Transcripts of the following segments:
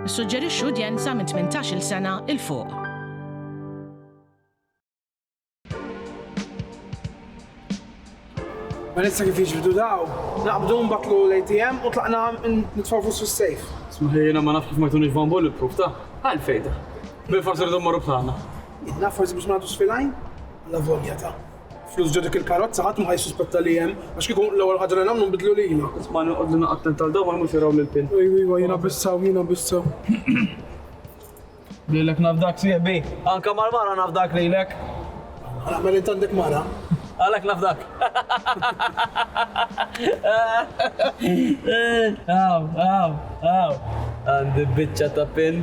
Nissuġġerixxu udjenza minn 18-il sena 'il fuq. Melissa kif jiġridu daw, naqbdu mbatlu l-ATM u tlaqna nitfaw fuq sus-sejf. Smaħi jena ma nafx kif ma jtunix van bolli proof ta' għal fejda. Bil forsi rridu marru bħalna. Jena forsi biex nagħtu sfilajn? La volja ta' Flus ġo dik il-karozza ħadd ma ħa jissuspetta li hemm, għax kieku l-ewwel ħaġa li nagħmlu nbiddlu lilna. Isma' noqgħodlu naqgħa attent għal dawn ma jmux jaraw lil Pin. Ejwa ejwa jiena bissew jiena bissew. Lilek nafdak sieħbi. Anke mal-mara nafdak lilek. Għala għamel int għandek mara? Għalhekk nafdak. Hawn hawn hawn għandi biċċa ta' Pin.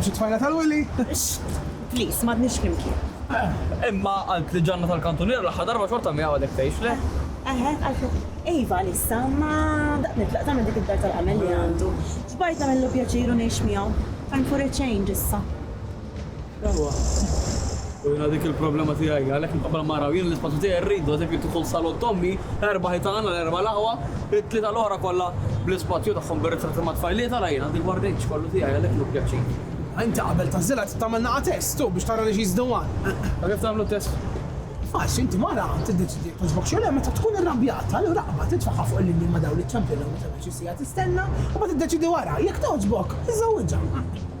Xi tfajla tal-Willy? Please, m'għadniex flimkien. Imma qaltli l-ġanna tal-kantuniera l-aħħar darba xorta miegħi għadek tgħix, le? Eħe, għalfejn? Iva, għalissa, imma daqt nitlaq tagħmel dik id-dar tal-għamel li għandu. Xbajt nagħmillu pjaċir u ngħix miegħu. Time for a change issa. Ewa. U jina dik il-problema tijaj, għalek nqabla mara, jina l-ispazju tijaj rridu, għazek li tkun salon tommi, erba ħitan, erba laħwa, it-tlita l-ora kolla bl-ispazju taħħom birrizzati ma tfajliet, għala jina dik bardejċ kollu tijaj, għalek nuk pjaċi. Inti qabel tazzila trid tagħmel naqa' test u biex tara li xi żdewwan. Ma kif tagħmlu test? Faċli, inti mara tiddeċidi jekk togħġbok xi le meta tkun irrabjata, allura qabad titfagħha fuq il-linja ma' dawn li ċċempilhom u tagħmel xi siegħa tistenna u mbagħad tiddeċidi wara, jekk togħġbok, iżżewwiġha.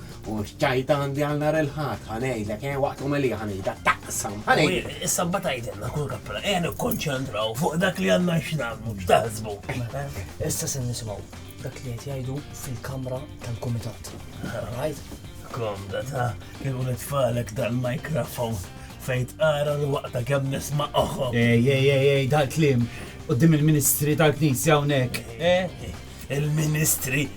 U x'ġajt għandi għal nhar il-Ħadd, ħa ngħidlek, eh, waqt l-omelija ħa ngħidha, taqsam, ħa ngħidlek. Ħwienet, is-Sabba tgħidilna kull kappella, ejja nikkonċentraw fuq dak li għandna x'nagħmlu, x'taħsbu. Issa se nisimgħu dak li qed jgħidu fil-kamra tal-kumitat. Rajt? Komda ta' kienu nitfalek dal-mikrofon fejn tqara li waqta kemm nisma' oħħom. Ej, ej, ej, ej, dal-klim, qoddim il-ministri tal-knisja hawnhekk. Eh, il-ministri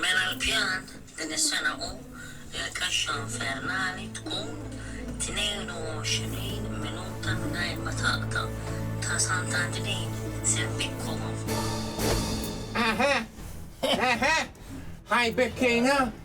Mela l-pjan din is-sena hu li l-kaxxa infernali tkun 22 minuta mingħajr ma taqta' ta' Sant'Anġlin Sempikkom. Eħe! Eħe! Ħajbekkiena!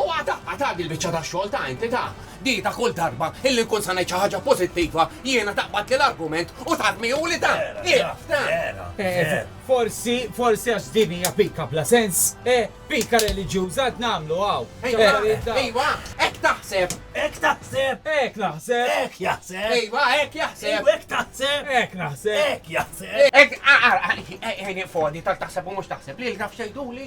U għad għad għad il-biċċa tax-xogħol ta' entità di ta' kull darba illi nkun sa ngħid xi ħaġa pożittiva jiena taqbadli l-argument u tarmihuli ta' ieqaf ta' Forsi, forsi għax din hija pika bla sens, eh, pika reliġjuża qed nagħmlu hawn. Ejwa, ejwa, hekk taħseb! Hekk taħseb! Hekk naħseb! Hekk jaħseb! Ejwa, hekk jaħseb! Ejwa, hekk taħseb! Hekk naħseb! Hekk jaħseb! Hekk, ara, ara, għajni f'għodi tal-taħseb u mhux taħseb li l-graf xejduli?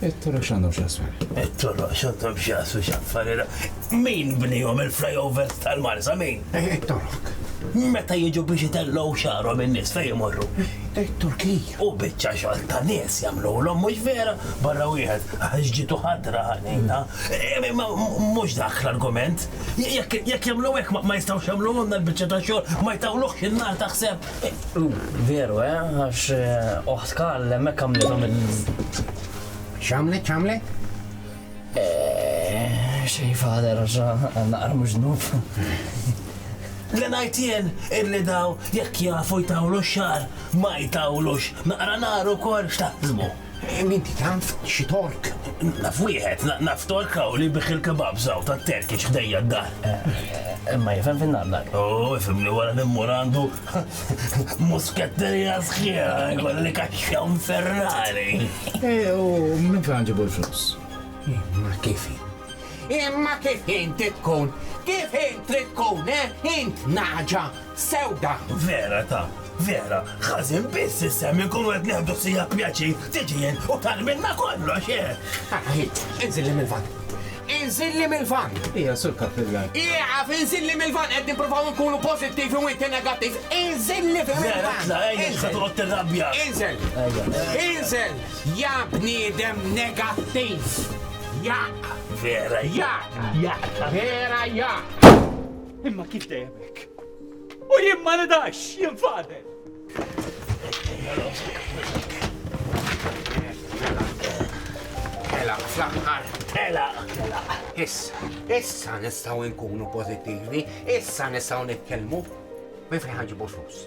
It-toroq x'għandhom x'jaqsmu? It-toroq x'għandhom x'jaqsmu x'affarira? Min bnihom il-flyovers tal-Marsa min? It-Tork. Meta jiġu biex itellgħu xagħarhom in-nies fejn imorru? It-Turkija. U biċċa xogħol ta' nies jagħmluhom mhux vera? Barra wieħed għax ġitu ħadra ħanina. Imma mhux dak l-argument. Jekk jagħmlu hekk ma jistgħux jagħmluhomna l-biċċa ta' xogħol, ma jtawluhx in-nar taħseb? Veru, eh, għax eh, oħt Karl hemmhekk għamlithom il. X'għamlet, x'għamlet? Eh, xej fader, naqra mhux nuf. Li najtien illi daw jekk jafu jtawlu xar ma jtawlux naqra naru kol xtaqzmu. Inti taf xi Tork? Naf wieħed, naf Tork hawn li jbigħ il-kebabs hawn tat-Terkiċ ħdejja d-dar. Imma jifhem fin-nagħmla. Oh, ifhem li wara li mmur għandu musketterija sħiħa jkolli kaxxa infernali. Eh, u minn fejn ġibu l-flus? Ma kif? Imma kif inti tkun? Kif int trid tkun, eh? Int nagħġa sewda! Vera ta', vera, ħażin biss isem inkunu qed neħdu siegħa pjaċir tiġi int u tagħmilna kollox, eh! Ara hi, inżilli mill-vann! Inżilli mill-vann! Ija, Sur Kappillan. Ieqaf, inżilli mill-vann, qed nippruvaw inkunu pożittivi u inti negattiv! Inżilli mill-vann! Vera, tla', ejja, x'se toqgħod tirrabja! Inżel! Inżel, ja bniedem negattiv! Jaqq! Vera jaqq! Jaqq! Vera jaqq! Imma kif dejjem hekk? U jien ma nidax, jien fadel! Tela, fl-aħħar, tela, tela. Issa, issa nistgħu nkunu pożittivi, issa nistgħu nitkellmu. Minn fejn ħanġibu flus?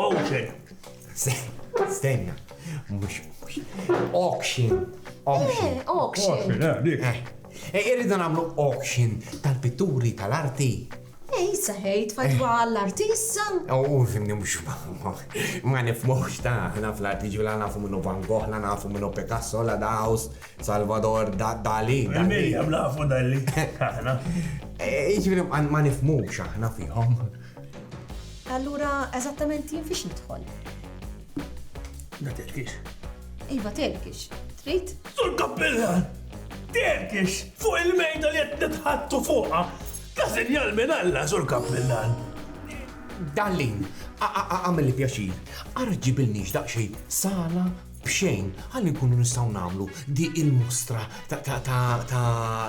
Ocean. Stenna. Mux, mux. Auction. Auction. Eh, auction. Auction, eh, dik. Eh. eh, irridu namlu auction tal-pitturi tal-arti. Ej, saħejt, fatwa eh. l-artissa. U fimni mux ma nifmux ta' ħna fl-arti ġula nafu minnu Van Gogh, la nafu minnu Picasso, la Daus, Salvador Dali. Dali, għamlafu Dali. Iġviri ma nifmux aħna fihom. Allura eżattament jien fiex nidħol? Ma terkix. Iva terkix. Trid? Sur Kappillan! Terkix! Fuq il-mejda li qed nitħattu fuqha! Ta' sinjal minn Alla, Sur Kappillan! Dallin, għamil pjaċir, ara ġibilniex daqsxejn sala b'xejn ħalli nkunu nistgħu nagħmlu di il-mostra ta'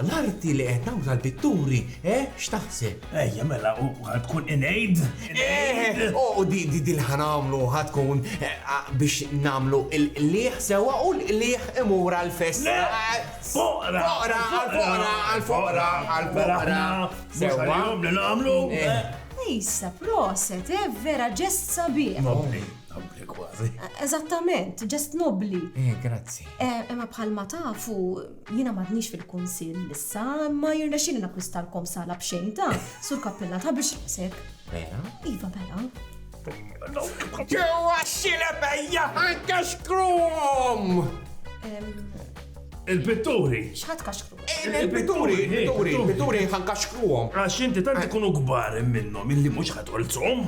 l-arti li qed nagħmlu tal-pitturi, eh, x'taħseb? Ejja mela u tkun inejt? Eh, u di di li ħanamlu ħatkun eh, biex nagħmlu l-liħ sewa u l-liħ imur għal-festa. Foqra! Foqra, għal-foqra, għal-foqra, għal-foqra. Sewa li nagħmlu. Issa proset, eh, vera ġest sabiħ. Nobbli kważi. Eżattament, ġest nobbli. Eh, grazzi. Eh, imma bħalma tafu, jiena m'għadniex fil-kunsill issa, ma jirna xini nakwistalkom sala b'xejn ta' sur kappella ta' biex rasek. Vera? Iva, vera. Ġewa xile bejja anka xkrum! Il-pitturi! Xħat kaxkru? Il-pitturi, il-pitturi, il-pitturi ħan kaxkruhom. Għax inti tant ikunu gbar minnhom illi mhux ħatolzhom.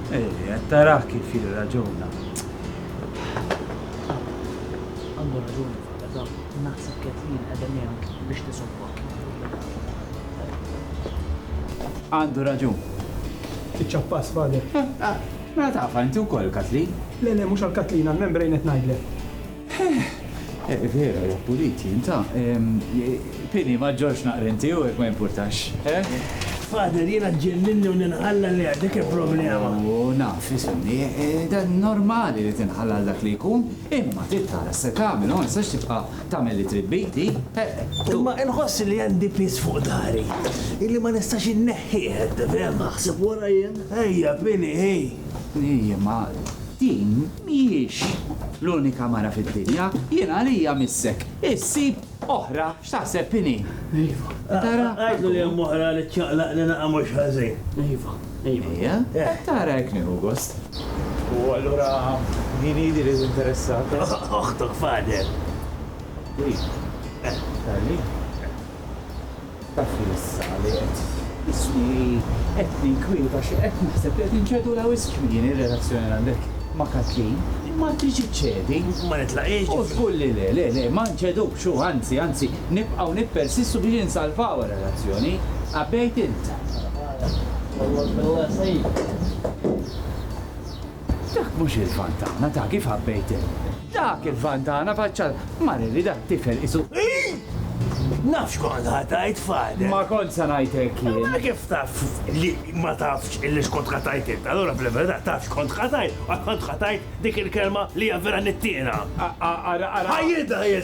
Ej, qed tarah kif jirraġuna. Għandu raġun il-fata dan, naħseb Kathleen qiegħda miegħek biex tisobbok. Għandu raġun. Iċċappas, Father. Mela tagħrfha inti wkoll, Kathleen? Le, le, mhux għal Kathleen, għall-membrane qed ngħidlek. Eh, vera, ja puliti, inta. Pini, ma ġorx naqra inti u jek ma jimpurtax, eh? Father, jena ġenninni u ninħalla li għadik il-problema. U naf, jisimni, eh, dan normali li tinħalla għal dak li jkun, imma tittara se tagħmel, ma nistax tibqa' tagħmel li tribbiti. Eh, imma inħoss li għandi pis fuq dari, illi ma nistax inneħħieħ, tifhem? Naħseb wara jien, ejja, Pini, ej. Ejja, ma din Mhijiex l-unika mara fid-dinja. Jien għalija missek. Issib oħra x'taħseb inhi. Iva. Tara? Għidlu li hemm oħra li ċċaqlaq li naqa' mhux ħażin. Iva. Iva. Ejja. Qed tara hekk nieħu gost. U allura din hi li li tinteressat? Oħtok, father. Iva. Tali. Taf li issa li qed isni qed ninkwieta xi qed naħseb li qed inċedulha wisq kmieni r-relazzjoni li għandek ma' Kathleen. Ma tridx iċċedi. Ma nitlaqiex ġifri. U żgur li le, le, le, ma nċedux, u anzi, anzi, nibqgħu nippersistu biex insalvaw ir-relazzjoni. Għabbejt int. Ħa, ħa, ħa, ħa. Wallah, wallah, sejf. Dak mhux il-vantana ta' kif ħabbejt il. Dak il-vantana faċċa l. Mara li dat-tifel qisu hi! Naf x'kont ħa tgħid f'għadek. Ma kontx se ngħid hekk jien. Mela kif taf li ma tafx illi x'kont ħa tgħid int? Allura fil-verità taf x'kont ħa tgħid u għad kont ħa tgħid dik il-kelma li hija vera nittiena. Ara, ara. Ħa jidha hi!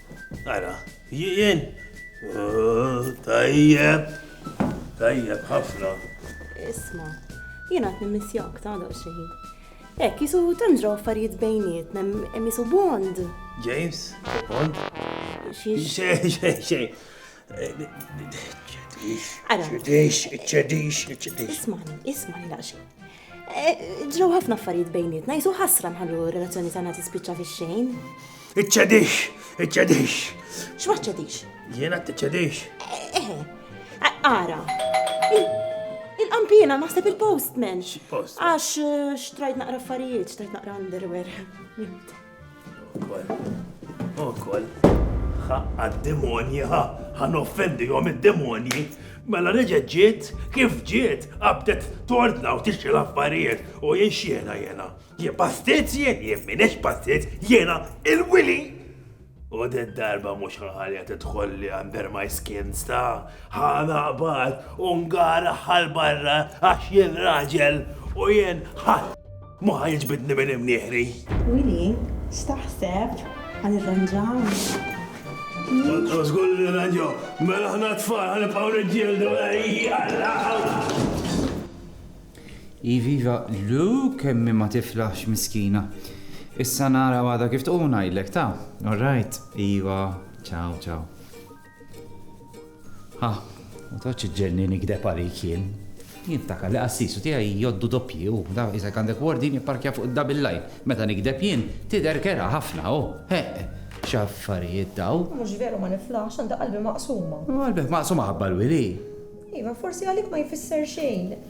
Ara, jien? Tajjeb, tajjeb ħafna. Isma, jien għat nimmissjak ta' daw xejn. Ek, jisu tanġraw affarijiet bejniet, nem jisu bond. James, bond? Xej, xej, xej. Ismani, ismani laqxi. Eh, ġew ħafna affarijiet bejnietna, jisu ħasra nħallu relazzjoni tagħna tispiċċa fix-xejn. Iċċedix, iċċedix. X'ma ċċedix? Jiena tiċċedix. Eh, eh, eh, ara. Il-qampina naħseb il-postman. Għax xtrajt naqra affarijiet, xtrajt naqra underwear. Ukoll, ħaqqa d-demonji, ħa, ħan offendi jom id-demonji. Mela reġet ġiet, kif ġiet, għabdet tordna u tixxi l-affarijiet u jien xiena jena. Jien pastiz jien, jien minex pastiz, jena il-wili. U din darba mux ħalja titħolli under my skin sta, ħana qbad u ngara ħal barra għax jien raġel u jien ħal. Moħħa jiġbidni minn imnieħri. Wili, staħseb għan irranġaw. Żgur li ranġaw, mela ħna tfal għan ibqgħu niġġieldu Iviva, lu kemmi ma tiflax miskina. Issa nara għada kif tquna jillek ta' all right, iva, ciao, ciao. Ha, ma toqgħodx iġġenni nigdeb għalik jien. Jien nftakar li qassisu tiegħi jgħoddu doppji u da qisek għandek wardin ipparkja fuq id-double line. Meta nigdeb jien tidher kerha ħafna u, heq, x'affarijiet daw! Mhux veru ma niflaħx, għandi qalbi maqsuma. Qalbek maqsuma ħabba l-wili? Iva, forsi għalik ma jfisser xejn.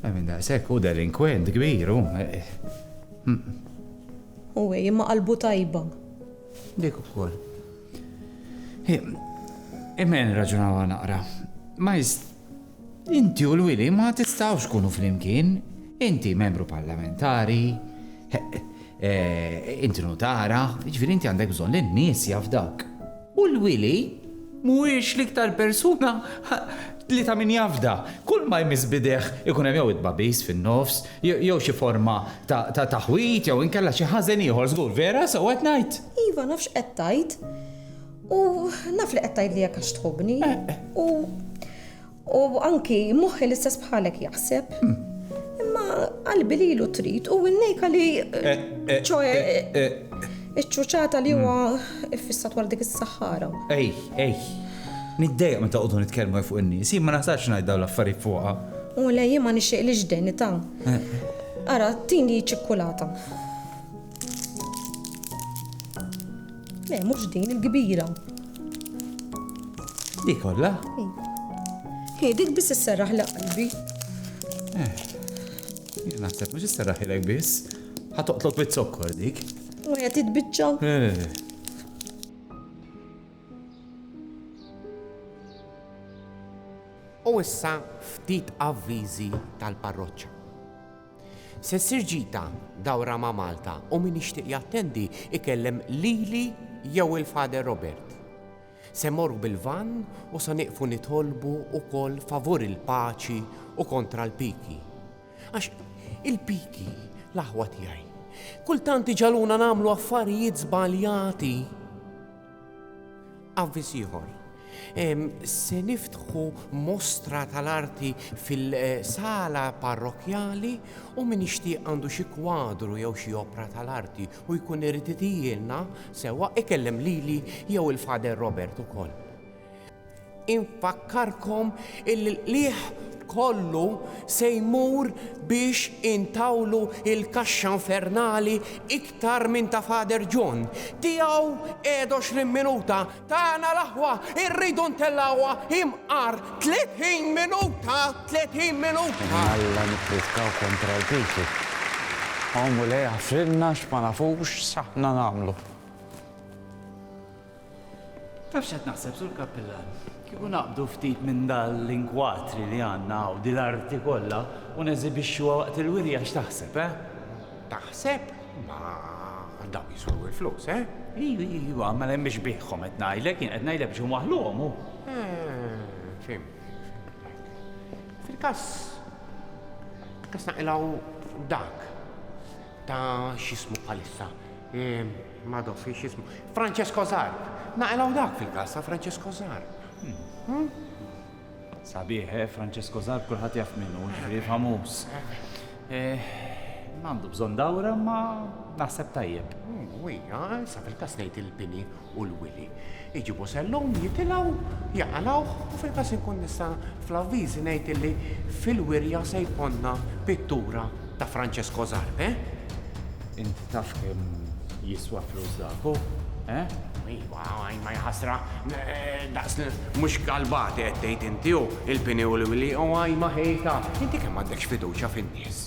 Imma minn daqshekk hu delinkwent kbir, hu. Hu, ej, imma qalbu tajba. Dik ukoll. Imma nirraġunawha naqra. Ma jist. Inti u l-wili ma tistgħux tkunu flimkien. Inti membru parlamentari, inti nutara, jiġifieri inti għandek bżonn li n-nies jafdak. U l-wili mhuwiex l-iktar persuna li ta' min jafda. Kull ma jmiss b'idejh ikun hemm jew it-tbagħbis fin-nofs, jew xi forma ta' taħwid jew inkella xi ħażen ieħor żgur, vera? Sewwa qed ngħid? Iva, naf x'qed tgħid. U naf li qed tgħidli hekk għax tħobbni. U U anki moħħi l-istess bħalek jaħseb. Imma qalbi li ilu trid u winnejka li eh, eh, ċoħe eh, iċ-ċuċata li huwa mm. iffissat wara dik is-saħħara. Ej, ej. Niddejq meta qogħdu nitkellmu fuq in-nies, ma naħsarx ngħid dawn l-affarijiet fuqha. U lej ma nixtieq li ġdeni ta'. Ara, tini ċikkulata. Le, mhux din il-kbira. Dik kollha? Hi, dik biss isserraħ li qalbi. Eh, jien naħseb mhux isserraħ ilek biss. Ħa toqtlok bit-zokkor dik. U qed titbiċċa. Eh. U issa ftit avviżi tal-parroċċa. Se ssir ġita, dawra ma' Malta u min jixtieq jattendi ikellem lili jew il-Father Robert. Se mmorru bil-vann u se nieqfu nitolbu wkoll favur il-paċi u kontra l-piki. Għax il-piki, l-aħwa tiegħi, kultant iġagħluna nagħmlu affarijiet żbaljati. Avviż ieħor, Se niftħu mostra tal-arti fil-sala parrokkjali u min jixtieq għandu xi kwadru jew xi opra tal-arti u jkun irid itijilna sewwa ikellem lili jew il-Father Robert ukoll. Infakkarkom illi l-qligħ kollu se jmur biex intawlu l-kaxxa infernali iktar minn ta' Father John. Tiegħu Edox l-imminuta, tagħna l-aħwa rridu ntellgħuha imqar 30 minuta, 30 minuta! Minn Alla nippritkaw kontra l-piki. O Mulej aħfrilna x'ma nafux s'aħna nagħmlu. Taf x'qed naħseb, Sur Kappillan? Kieku naqbdu ftit minn dan l-inkwatri li għandna hawn, din l-arti kollha, u neżibixxuha waqt il-wirja x'taħseb, eh? Taħseb? Ma dawn jiswew il-flus, eh? Iva, iva, ma hemm biex bihom qed ngħidlek, jien qed ngħidlek biex huma ħluhom hu. Fim, fil-każ kas naqilgħu dak ta' x'ismu bħalissa. Mado fiex jismu. Francesco Zar! Naqilgħu dak fil-każ ta' Francesco Zar. Sabiħ, eh, Francesco Zar kulħadd jaf minnu, ġifieri famuż. Eh, Għandu bżonn dawra ma naħseb tajjeb. Wija, sa fil-każ ngħid il-bini u l-wili. Iġibu sellum, jitilgħu, jaqalgħuh u fil-każ inkun nista' fl-avviżi ngħid illi fil-wirja se jkollna pittura ta' Francesco Zarpe. Int taf kemm jiswa flus dak hu, eh? Iva, imma jaħasra, daqs li mhux galbati qed tgħid inti hu, il-pini u l-wliq u għajma ħejta. Inti kemm m'għandekx fiduċja fin-nies?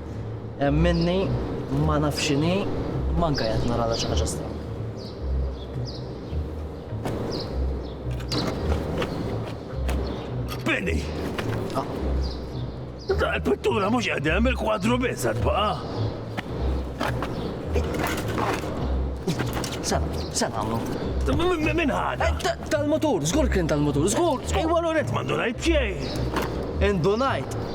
Hemm minni ma naf x'inhi, manka jien qed naralha xi ħaġa stramba. Penny! Ah. Da l-pittura mhux qegħdem il-kwadru biss qed baqa'. Sena, sena għamlu. Min ħada? Eh, tal-motur, żgur kien tal-motur, żgur. Ejwa l-onet m'għandu ngħid xejn. Indunajt,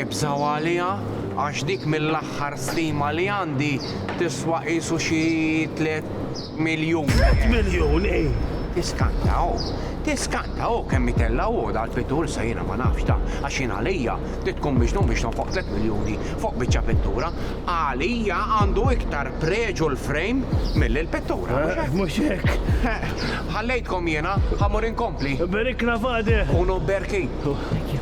Ibżgħu għaliha għax dik mill-aħħar stima li għandi tiswa qisu xi tliet miljun. Tliet miljun, ii! Tiskanta hu, tiskanta hu kemm itellgħu hu dal-pittur sa jiena ma nafx dan għax jien għalija trid tkun miġnun biex tonfoq tliet miljuni fuq biċċa pittura. Għalija għandu iktar preġu l-frame milli l-pittura, mhux hekk? Mhux hekk. Ħallejtkom jiena, ħa mmur inkompli. Iberikna Fadeh! Hu nobberki.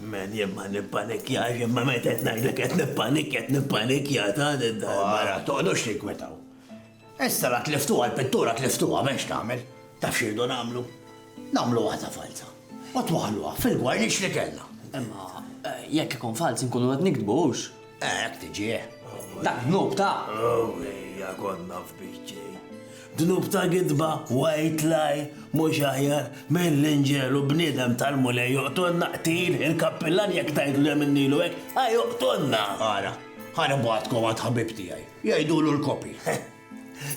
Man jien ma nippanikjax imma meta qed ngħidlek qed nippanikja qed nippanikja ta' din darbara. Toqgħodux tinkwetaw. Issa la tliftuha l-pittura tliftuha m'hemm x'tagħmel. Taf x'irdu nagħmlu? Nagħmlu waħda falza. U twaħħluha fil-gwarniċ li kellna. Imma jekk ikun falz inkunu qed niktbu hux? Eh, hekk tiġih. Dak dnub ta'. Oh, ejja konna f'biċċi. Dnub ta' gidba, white lie, mhux aħjar minn l-inġel u bniedem tal-mulej joqtonna qtil il-kappillan jekk tgħidlu hemm in-Nilu hekk, ħa joqtonna. Ara, ħa nibgħatkom għand ħabib tiegħi, jgħidulu l-kopi.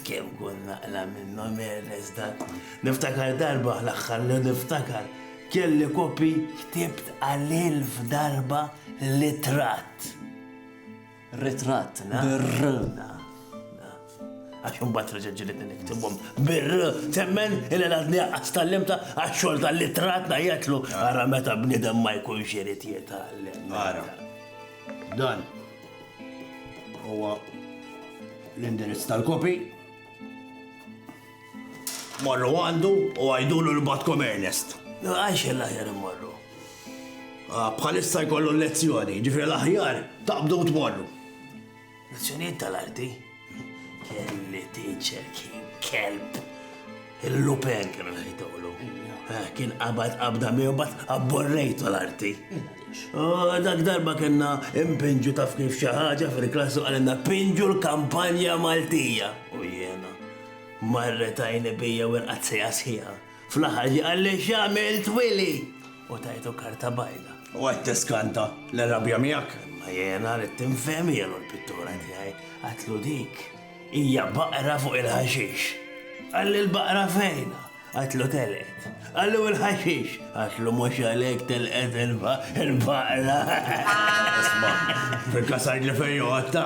Kemm kont naqla' minnhom Ernest dak. Niftakar darba l-aħħar li niftakar kelli kopi ktibt għal ilf darba l-itratt. Ritratt, na? Bir-r, na. Għax imbagħad reġa' ġilidni niktibhom bir-r, temmen ilha għadni għaqqas tal-limta għax-xogħol tal-itratt ngħidlu ara meta bniedem ma jkunx irid jitgħallem. Ara. Dan huwa l-indirizz tal-kopi. Morru għandu u għajdulu l-batkom Ernest. Għajx l-aħjar morru. Ah, bħalissa jkollu l-lezzjoni, ġifri l-aħjar taqbdu tmorru. Nazzjonijiet tal-arti? Kelli teacher kien kelb. Il-lupen kienu ħajtolu. Eh, kien qabad qabda miegħu bat abborrejtu l-arti. Oh, dak darba kena impinġu taf kif xi ħaġa fil-klassu għalenna pinġu l-kampanja Maltija. U jena, marret għajni bija u l-qazzija sħiħa. Fl-aħħar ġie qalli x'għamilt Willy u tajtu karta bajda. U qed tiskanta l-irrabja miegħek? Imma jiena ridt infhem ilu l-pittura tiegħi. Għadtlu dik hija baqra fuq il-ħaxix. Qalli l-baqra fejn? Għadtlu telqet. Qalli u l-ħaxix? Għadtlu mhux għalhekk telqet il-baqra. Isma', fil-każ għidli fejn joqgħodta.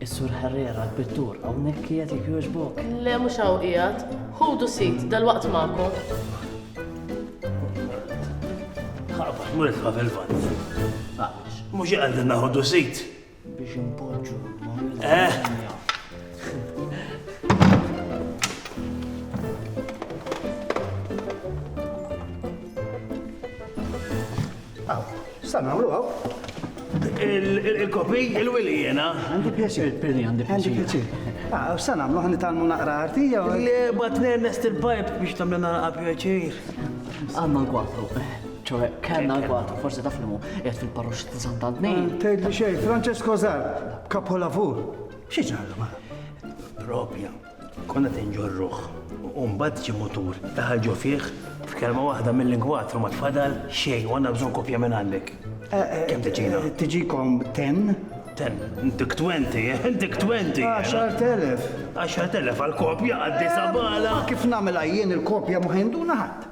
Is-Sur Herrera, l-pittur, hawnhekk qiegħed jekk jogħġbok? Le mhux hawn qiegħed. Ħudu sit, dalwaqt magħkom. Ħabax mur itħaf il-vant. Għaliex? Mhux iqgħedin naħodu sit. Biex impoġġu. Eh. Sa nagħmlu hawn. Il-kopi, il-wili jena. Għandi pjaċir, Pili, għandi pjaċir. Għandi pjaċir. Ah, sa nagħmlu ħan nitalmu naqra arti jew. Le, batnen nest il-pipe biex tagħmlilna naqra pjaċir. Għandna l-kwatru. ċoħe, kellna l-kwatru, forsi taf li mu, jgħed fil-parrux ta' Sant'Antni. Ah, Tgħid li xejn, Francesco Zar, kapolavur. Xi ġarra ma? Propja. Konna qed inġorruh u mbagħad ġie mutur daħal ġo fih f'kelma waħda mill-ingwatru ma tfadal xejn u għandna bżonn kopja minn għandek. Kemm tiġina? Tiġikom ten? Ten, dik twenti, dik twenti. Għaxar telef. Għaxar telef għal kopja għad-disa bala. Kif nagħmilha jien il-kopja ma ħinduna ħadd.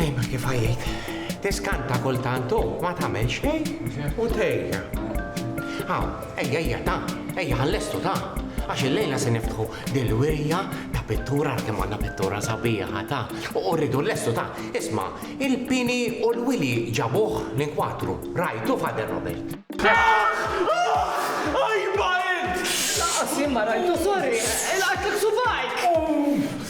Ejma kif għajjejt. Tiskanta kultant u ma tagħmel xejn u tejja. Aw, ejja ejja ta, ejja ħallestu ta, għax il-lejla se niftħu dil-wirja ta' pittura kemm għandna pittura sabiħa ta, u rridu l-lestu ta, isma' il-pini u l-wili ġabuh l-inkwatru, rajtu Father Robert. Ajba int! Laqqas jien ma rajtu sorry, ilqajtlek subgħajk!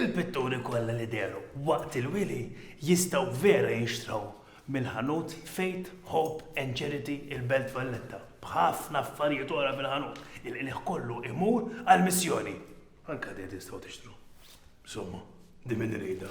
Il-pitturi kollha li dehru waqt il-wili jistgħu vera jinxtraw mill-ħanut Faith, Hope and Charity il-Belt Valletta b'ħafna affarijiet oħra fil-ħanut. Il-qligħ kollu imur għall-missjoni. Anke din tistgħu tixtru. Insomma, din min iridha.